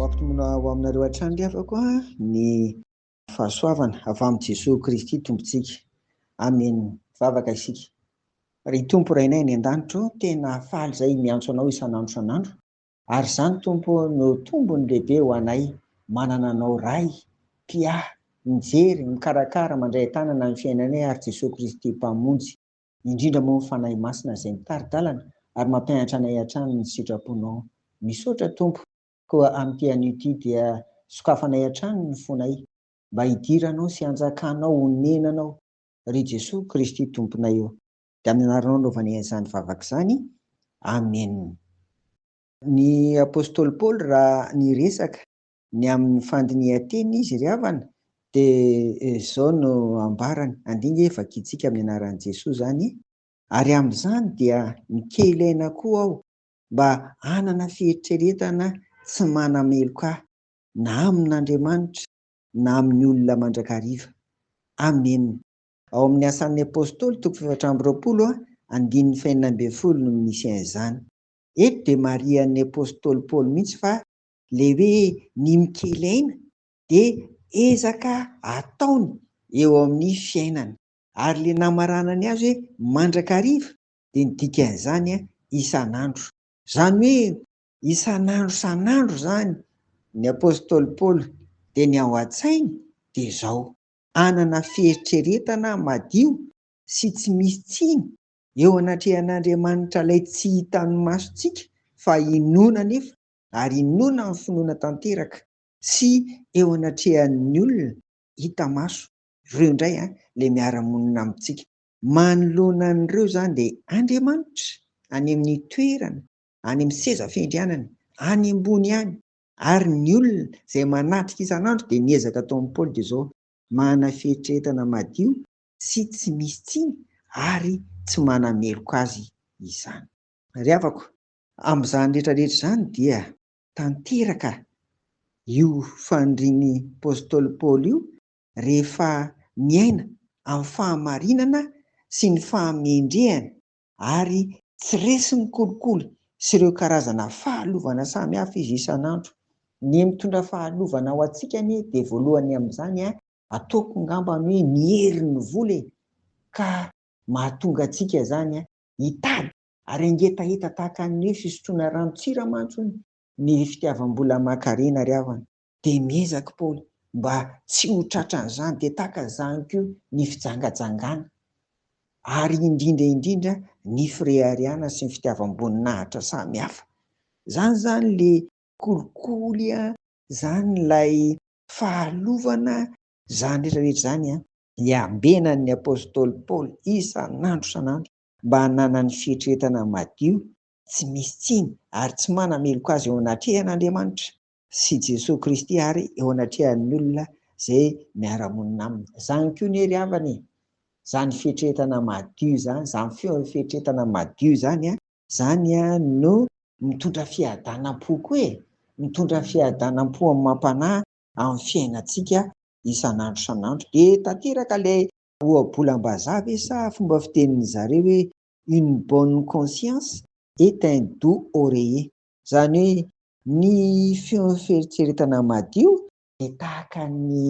Ho ampitombona ho aminareo hatrany ry havako ny fahasoavana avy amin'i Jesoa Kristy Tompontsika. Amena. Mivavaka isika. Ry Tompo Rainay any an-danitra ô, tena faly izay miantso Anao isan'andro isan'andro, ary izany Tompo ô no tombony lehibe ho anay manana Anao Ray, Mpiahy, Mijery, Mikarakara, Mandray an-tanana ny fiainanay ary Jesoa Kristy Mpamonjy. indrindra moa ny Fanahy Masina izay mitari-dalana ary mampianatra anay hatrany ny sitraponao. Misaotra Tompo. Koa amin'ity anio ity dia sokafanay hatrany ny fonay mba hidiranao sy hanjakanao honenanao ry Jesoa Kristy Tomponay ô. Dia amin'ny anaranao anaovanay an'izany vavaka izany. Amen. Ny Apostoly Paoly raha niresaka Ny amin'ny fandinihan-teny izy ry havana dia izao no ambarany, andinika hoe vakintsika amin'ny anaran'i Jesoa izany, ary amin'izany dia mikely aina koa aho mba hanana fieritreretana tsy manameloka ahy na amin'Andriamanitra na amin'ny olona mandrakariva. Amena. Ao amin'ny Asan'ny Apostoly, toko fahefatra amby roapolo, andininy fahenina ambin'ny folo no misy an'izany. Eto dia marihan'ny Apostoly Paoly mihitsy fa ilay hoe ny mikely aina dia ezaka ataony eo amin'ny fiainany. Ary ilay namaranany azy hoe mandrakariva dia ny dikan'izany isan'andro. Izany hoe isan'andro isan'andro izany ny apostoly Paoly dia ny ao an-tsainy dia izao, hanana fieritreretana madio sy tsy misy tsiny eo anatrehan'Andriamanitra ilay tsy hitan'ny masontsika fa inoana anefa ary inoana amin'ny finoana tanteraka sy eo anatrehan'ny olona hita maso, ireo indray ilay miara-monina amintsika. Manoloana an'ireo izany dia Andriamanitra any amin'ny toerana, any amin'ny seza fiandrianany, any ambony any, ary ny olona izay manatrika isan'andro dia ny ezaka ataon'i Paoly dia izao, manana fieritreretana madio sy tsy misy tsiny ary tsy manameloka azy izany. Ry havako, Amin'izany rehetrarehetra izany dia tanteraka io fanirian'ny apostoly Paoly io rehefa miaina amin'ny fahamarinana sy ny fahamendrehana ary tsy resin'ny kolikoly sy ireo karazana fahalovana samihafa izy isan'andro. Ny mitondra fahalovana ho antsika anie dia voalohany amin'izany ataoko ngambany hoe ny herin'ny vola e! ka mahatonga antsika izany hitady Ary angetaheta tahaka ny hoe fisotroana rano tsira mantsy hono ny fitiavam-bola aman-karena ry havana. Dia miezaka Paoly mba tsy ho tratran'izany, dia tahaka izany koa ny fijangajangana, ary indrindra indrindra ny fireharehana sy ny fitiavam-boninahitra samy hafa. Izany izany ilay kolikoly an, izany ilay fahalovana an, izany rehetra rehetra izany an. Iambenan'ny apostoly Paoly isan'andro isan'andro mba hananany fietreetana madio, tsy misy tsiny ary tsy manameloka azy eo anatrehan' Andriamanitra sy Jesoa Kristy ary eo anatrehan' ny olona izay miara-monina aminy. Izany koa anie ry havana e! Izany fietreetana madio izany, izany fietreetana madio izany, izany no mitondra fiadanam-po koa e! Mitondra fiadanam-po amam-panahy amin'ny fiainantsika isan'andro isan'andro dia tanteraka ilay Ohabolam-bazaha ve sa fomba fitenin'ny zareo hoe une bonne conscience est un doux oreiller. Izany hoe ny feon'ny fieritreretana madio dia tahaka ny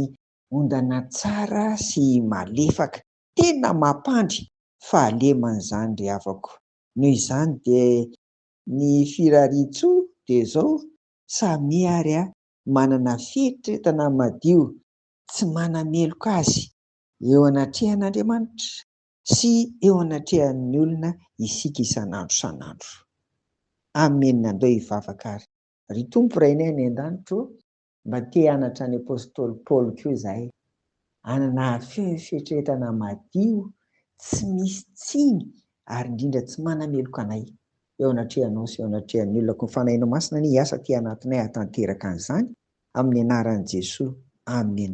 ondana tsara sy malefaka. Tena mampandry fahalemana izany ry havako. Noho izany dia ny firarian-tsoa dia izao, samia ary manana fieritreretana madio tsy manameloka azy Eo anatrehan'Andriamanitra sy eo anatrehan'ny olona isika isan'andro isan'andro. Amen andao hivavaka ary. Ry Tompo Rainay any an-danitra ô, mba te hanatra an'i Apostoly Paoly koa izahay, hanana fieritreretana madio, tsy misy tsiny ary indrindra tsy manameloka anay eo anatrehanao sy eo anatrehan'ny olona koa ny Fanahinao Masina anie hiasa aty anatinay hahatanteraka an'izany, amin'ny anaran'i Jesoa, Amen.